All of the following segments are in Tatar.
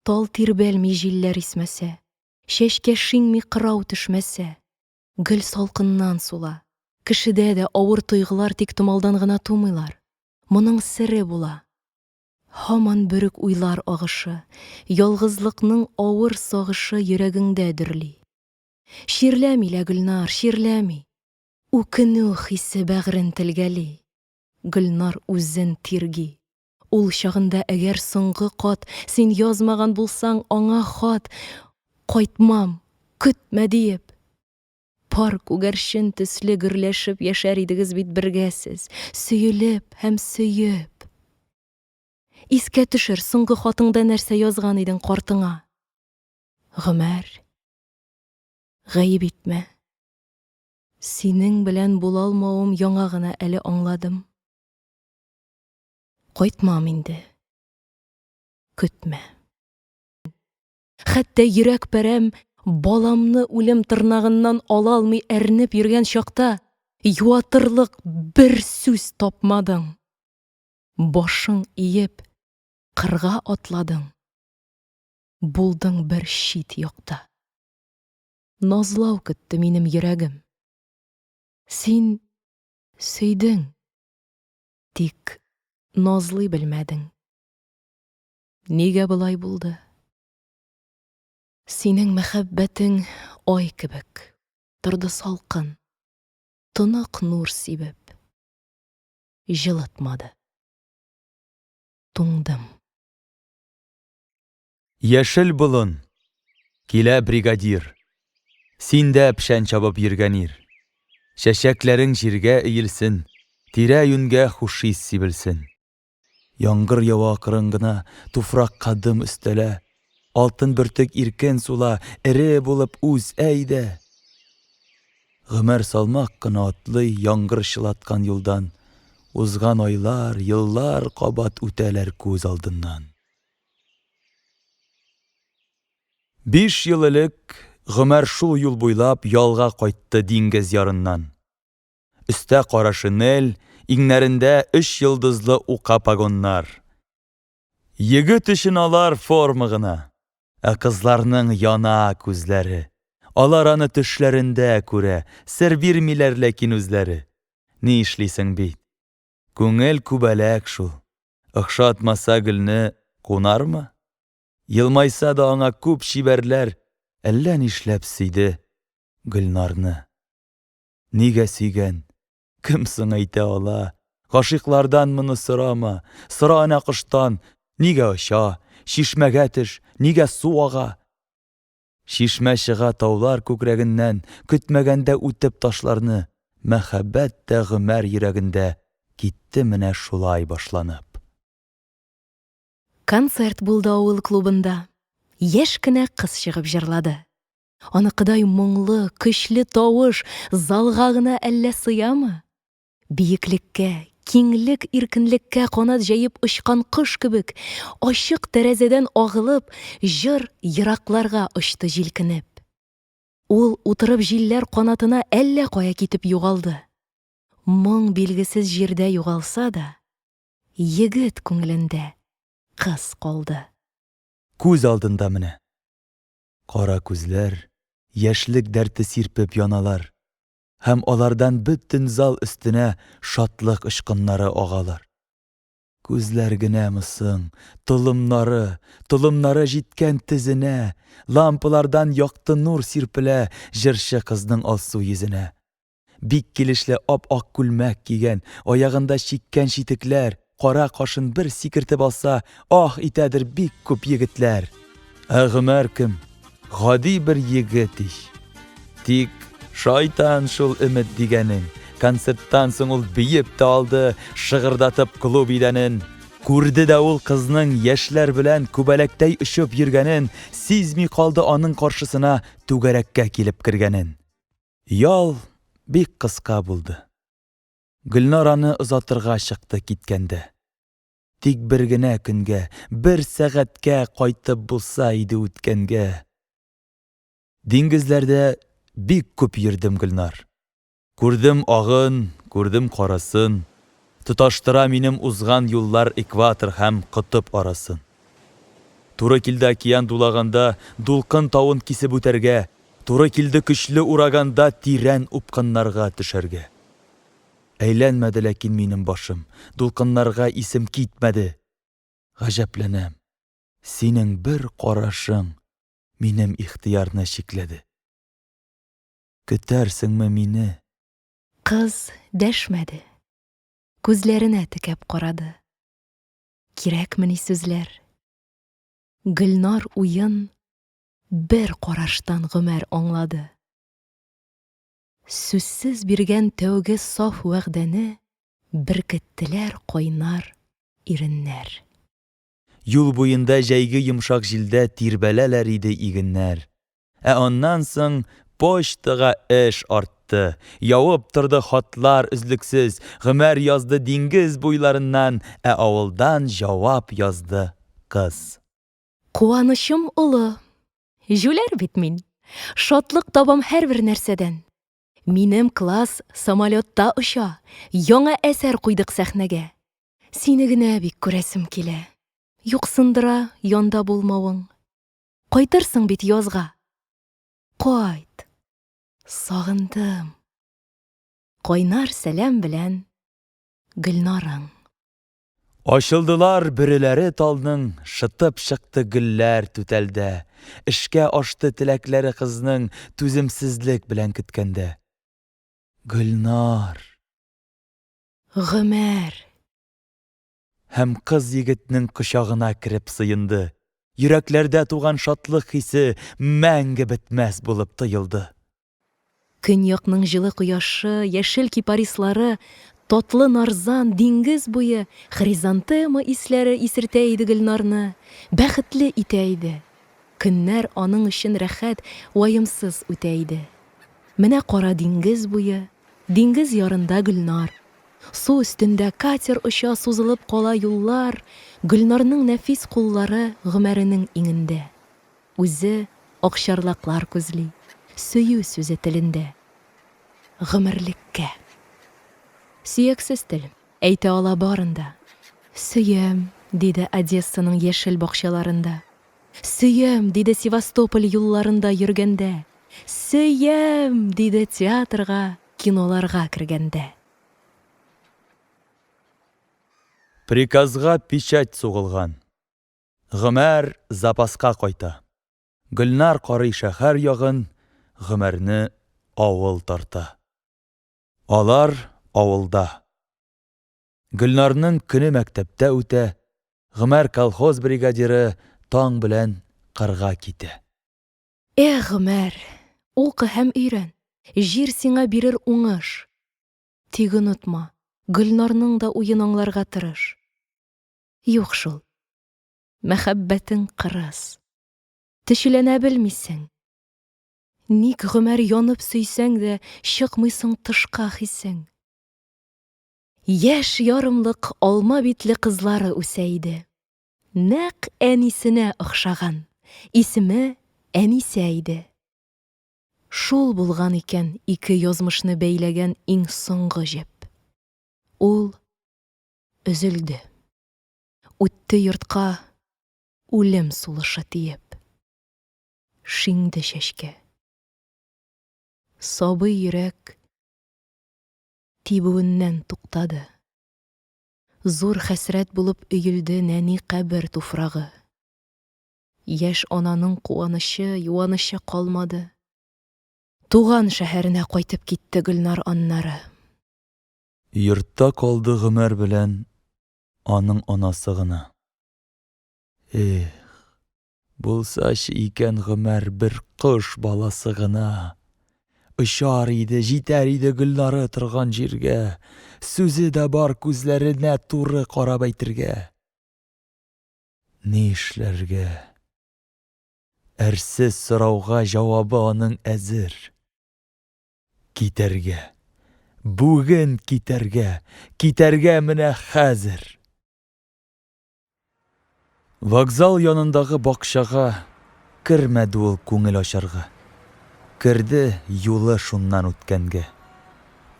Тал тирбәлми җилләр исмәсә, Чәчкә шиңми кырау төшмәсә, Гөл салкыннан сула. Кешедә дә авыр тойгылар тик томалдан гына тумыйлар. Моның сере була. Һаман бөрек уйлар агышы, Ялгызлыкның авыр сагышы Йөрәгеңдә дөрли. Чирләми лә, Гөлнар, чирләми. Үкенү хисе бәгърен телгәли. Гөлнар үзен тирги. Ул чагында әгәр соңгы кат син язмаган булсаң аңа хат, Кайтмам, көтмә, диеп. Пар күгәрчен төсле гөрләшеп яшәр идегез бит бергә сез, сөелеп һәм сөеп. Искә төшер, соңгы хатыңда нәрсә язган идең картыңа? Гомәр, гаеп итмә. Синең белән булалмавым яңа гына әле аңладым. Кайтмам инде. Көтмә. Хәтта йөрәк пәрәм баламны үлем тырнагыннан ала алмый әрнеп йөргән чакта, юатырлык бер сүз тапмадың. Башың иеп, кырга атладың. Булдың бер чит якта. назлау көтте минем йөрәгем. Син сөйдең, тик назлый белмәдең. Нигә болай булды? Синең мәхәббәтең ай кебек, торды салкын, тонык нур сибеп, җылытмады. Туңдым. Яшел болын. Килә бригадир. Син дә пшән чабып йөргән ир. Чәчәкләрең җиргә иелсен, тирә-юньгә хуш ис сибелсен. Яңгыр ява акрын гына, туфракка дым өстәлә. Алтын бөртек иркен сула, эре булып үз, әйдә! Гомер салмак кына атлый яңгыр чылаткан юлдан, узган айлар, еллар кабат үтәләр күз алдыннан. Биш ел элек Гомәр шул юл буйлап ялга кайтты диңгез ярыннан. Өстә кара шинель, иңнәрендә өч йолдызлы ука погоннар. Егет өчен алар форма гына. Ә кызларның яна күзләре. Алар аны төшләрендә күрә, сер бирмиләр ләкин үзләре. Ни эшлисең бит. Күңел күбәләк шул. Охшатмаса гөлне кунармы? Елмайса да аңа күп чибәрләр әллә нишләп сөйде Гөлнарны. Нигә сөйгән? Кем соң әйтә ала? Гашыйклардан моны сорама, сора әнә коштан, нигә оча, чишмәгә төш, нигә су ага? Чишмә чыга таулар күкрәгеннән, Көтмәгәндә үтеп ташларны, Мәхәббәт тә Гомәр йөрәгендә Китте менә шулай башланып. Концерт булды авыл клубында. Яшь кенә кыз чыгып җырлады. Аныкыдай моңлы, көчле тавыш залга гына әллә сыямы? Биеклеккә, киңлек, иркенлеккә канат җәеп очкан кош кебек, ачык тәрәзәдән агылып, җыр еракларга очты җилкенеп. Ул, утырып җилләр канатына, әллә кая китеп югалды. Моң билгесез җирдә югалса да, егет күңелендә кыз калды. Күз алдында менә. Кара күзләр, яшьлек дәрте сирпеп яналар. һәм алардан бөтен зал өстенә шатлык очкыннары агалар. Күзләр генәме соң, толымнары, толымнары җиткән тезенә, лампалардан якты нур сирпелә җырчы кызның алсу йөзенә. Бик килешле ап-ак күлмәк кигән, аягында чиккән читекләр, Кара кашын бер сикертеп алса, ах итәдер бик күп егетләр. Ә Гомәр кем? Гади бер егет ич. Тик шайтан шул өмет дигәнең. Концерттан соң ул биеп тә алды, шыгырдатып клуб идәнен. Күрде дә ул кызның яшьләр белән күбәләктәй очып йөргәнен, сизми калды аның каршысына түгәрәккә килеп кергәнен. Ял бик кыска булды. Гөлнараны озатырга чыкты киткәндә. Тик бер генә көнгә, бер сәгатькә кайтып булса иде үткәнгә. Диңгезләрдә бик күп йөрдем, Гөлнар. Күрдем агын, күрдем карасын, тоташтыра минем узган юллар экватор һәм котып арасын. Туры килде океан дулаганда дулкын тавын кисеп үтәргә, туры килде көчле ураганда тирән упкыннарга төшәргә. Әйләнмәде ләкин минем башым, Дулкыннарга исем китмәде. Гаҗәпләнәм, синең бер карашың Минем ихтыярны чикләде. Көтәрсеңме мине? Кыз дәшмәде, күзләренә текәп карады. Кирәкмени сүзләр? Гөлнар уен Бер караштан гомәр аңлады. Сүзсез биргән тәүге саф вәгъдәне Беркеттеләр кайнар иреннәр. Юл буенда җәйге йомшак җилдә Тирбәләләр иде игеннәр. Ә аннан соң почтага эш артты, Явып торды хатлар өзлексез, Гомәр язды диңгез буйларыннан, Ә авылдан җавап язды кыз. Куанычым олы, җүләр бит мин. Шатлык табам һәрбер нәрсәдән. Минем класс самолетта оча, яңа әсәр куйдык сәхнәгә. Сине генә бик күрәсем килә. Юксындыра янда булмавың. Кайтырсың бит язга. Кайт, сагындым. Кайнар сәлам белән Гөлнарың. Ачылдылар бөреләре талның, Шытып чыкты гөлләр түтәлдә. Эшкә ашты теләкләре кызның, Түземсезлек белән көткәндә. Гөлнар. Гомәр. Һәм кыз егетнең кочагына кереп сыенды. Йөрәкләрдә туган шатлык хисе Мәңге бетмәс булып тоелды. Көньякның җылы кояшы, яшел кипарислары, татлы нарзан, диңгез буе хризантема исләре исертә иде Гөлнарны, бәхетле итә иде. Көннәр аның өчен рәхәт, ваемсыз үтә иде. Менә кара диңгез буе, диңгез ярында Гөлнар. Су өстендә катер оча, сузылып кала юллар, Гөлнарның нәфис куллары Гомәренең иңендә. Үзе акчарлаклар күзли, Сөю сүзе телендә. Гомерлеккә. Сөяксез тел, әйтә ала барын да. Сөям, диде Одессаның яшел бакчаларында. Сөям, диде Севастополь юлларында йөргәндә. Сөям! диде театрга, киноларга кергәндә. Приказга печать сугылган. Гомәр запаска кайта. Гөлнар карый шәһәр ягын, Гомәрне авыл тарта. Алар авылда. Гөлнарның көне мәктәптә үтә, Гомәр колхоз бригадиры таң белән кырга китә. Эх, Гомәр, укы һәм өйрән, җир сиңа бирер уңыш. Тик онытма, Гөлнарның да уен аңларга тырыш. Юк шул. Мәхәббәтең кырыс. Төчеләнә белмисең. Ник гомер янып сөйсәң дә, чыкмыйсың тышка хисең? Яшь ярымлык алма битле кызлары үсә иде. Нәкъ әнисенә охшаган. Исеме Әнисә иде. Шул булган икән ике язмышны бәйләгән иң соңгы җеп. Ул өзелде. Үтте йортка үлем сулышы тиеп. Шиңде чәчкә. Сабый йөрәк тибүеннән туктады. Зур хәсрәт булып өелде нәни кабер туфрагы. Яшь ананың куанычы, юанычы калмады. Туган шәһәренә кайтып китте Гөлнар аннары. Йортта калды Гомәр белән аның анасы гына. Эх, булсачы икән Гомәр бер кош баласы гына. Очар иде, җитәр иде Гөлнары торган җиргә. Сүзе дә бар күзләренә туры карап әйтергә. Ни эшләргә? Әрсез сорауга җавабы аның әзер. Китәргә! Бүген китәргә! Китәргә менә хәзер! Вокзал янындагы бакчага кермәде ул күңел ачарга. Керде юлы шуннан үткәнгә.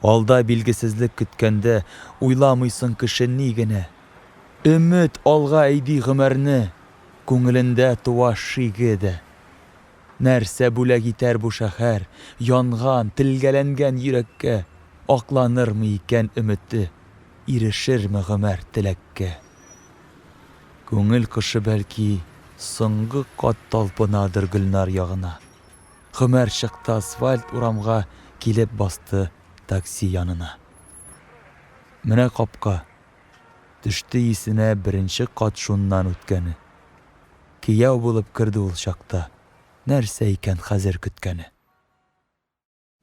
Алда билгесезлек көткәндә, уйламыйсың кеше ни генә. Өмет алга әйди гомерне, күңелендә туа шиге дә. Нәрсә бүләк итәр бу шәһәр Янган, телгәләнгән йөрәккә? Акланырмы икән өмете, Ирешерме гомәр теләккә? Күңел кошы, бәлки, соңгы кат Талпынадыр Гөлнар ягына. Гомәр чыкты асфальт урамга, Килеп басты такси янына. Менә капка. Төште исенә Беренче кат шуннан үткәне. Кияү булып керде ул чакта. Нәрсә икән хәзер көткәне?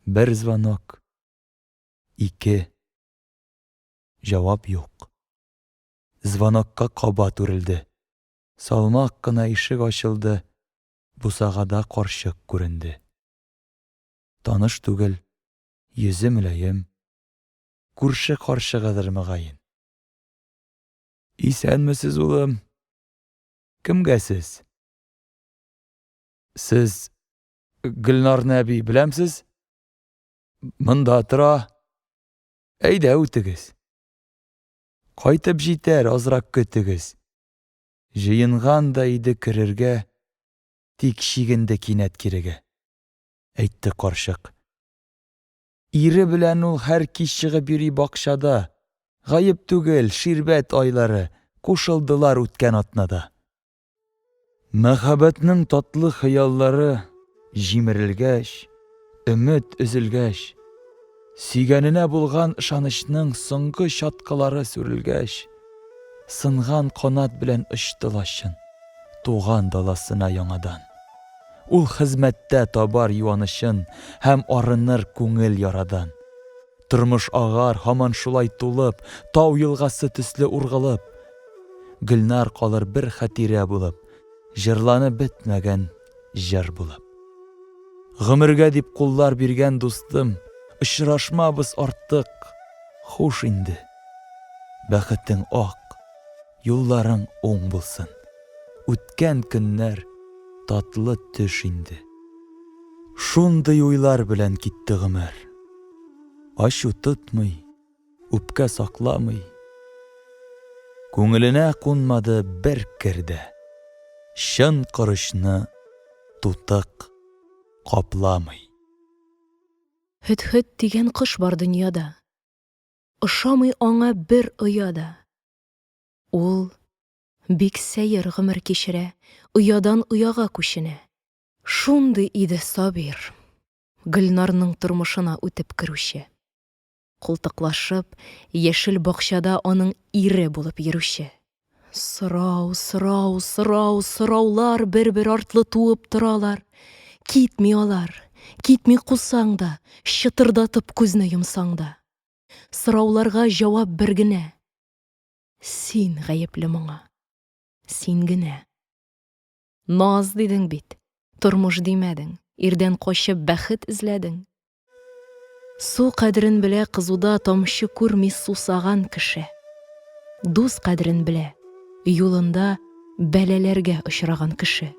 Бер звонок. Ике. Җавап юк. Звонокка кабат үрелде. Салмак кына ишек ачылды, бусагада карчык күренде. Таныш түгел, йөзе мөлаем. Күрше карчыгыдыр, мөгаен. Исәнмесез, улым! Кемгә сез? Сез Гөлнарны әби беләмсез? Монда тора. Әйдә, үтегез. Кайтып җитәр, азрак көтегез. Җыенган да иде керергә, тик чигенде кинәт кирегә. Әйтте карчык. Ире белән ул һәр кич чыгып йөри бакчада. Гаеп түгел, ширбәт айлары, кушылдылар үткән атнада. Мәхәббәтнең татлы хыяллары җимерелгәч, өмет өзелгәч, сөйгәненә булган ышанычның соңгы чаткылары сүрелгәч, Сынган канат белән очты лачын Туган даласына яңадан. Ул хезмәттә табар юанычын Һәм арыныр күңел ярадан. Тормыш агар һаман шулай тулып, Тау елгасы төсле ургылып. Гөлнар калыр бер хәтирә булып, Җырланып бетмәгән Җыр булып. Гомергә дип куллар биргән дустым, Очрашмабыз артык, хуш инде. Бәхетең ак, юлларың уң булсын, Үткән көннәр, татлы төш инде. Шундый уйлар белән китте гомер. Ачу тотмый. Үпкә сакламый. Күңеленә кунмады бер кер дә. Чын корычны тутык капламый. Һөдһөд дигән кош бар дөньяда. Ошамый аңа бер оя да. Ул бик сәер гомер кичерә, оядан ояга күченә. Шундый иде Сабир, Гөлнарның тормышына үтеп керүче. култыклашып, яшел бакчада аның ире булып йөрүче. Сорау, сорау, сорау, сораулар бер-бер артлы туып торалар. Китми алар. Китми кусаң да, чытырдатып күзне йомсаң да. Сорауларга җавап бер генә. Син гаепле моңа. Син генә. Наз дидең бит. Тормыш димәдең. Ирдән качып бәхет эзләдең. Су кадерен белә кызуда тамчы күрми сусаган кеше. Дус кадерен белә юлында бәлаләргә очраган кеше.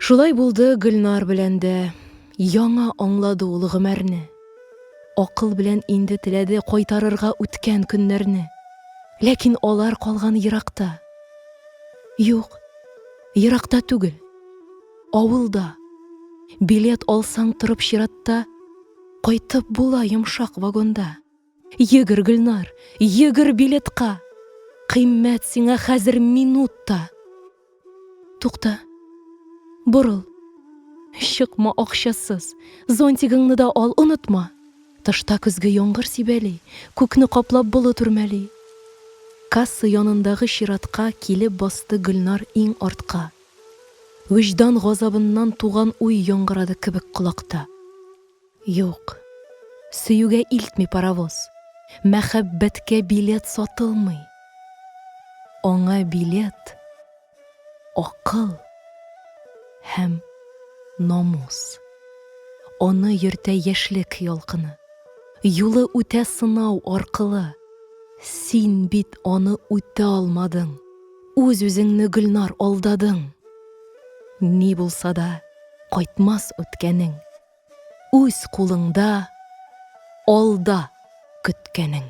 Шулай булды Гөлнар белән дә. Яңа аңлады ул гомәрне. Акыл белән инде теләде кайтарырга үткән көннәрне. Ләкин алар калган еракта. Юк, еракта түгел. Авылда. Билет алсаң торып чиратта, Кайтып була йомшак вагонда. Йөгер, Гөлнар, йөгер билетка, Кыйммәт сиңа хәзер минут та. Тукта, борыл, чыкма акчасыз, Зонтигыңны да ал, онытма. Тышта көзге яңгыр сибәли, Күкне каплап болыт үрмәли. Касса янындагы чиратка Килеп басты Гөлнар иң артка. Вөҗдан газабыннан туган уй яңгырады кебек колакта. Юк, сөюгә илтми паровоз, мәхәббәткә билет сатылмый. Аңа билет, акыл һәм намус. Аны йөртә яшьлек ялкыны. Юлы үтә сынау, аркылы. Син бит аны үтә алмадың. Үз-үзеңне, Гөлнар, алдадың. Ни булса да, кайтмас үткәнең. Үз кулыңда, алда көткәнең.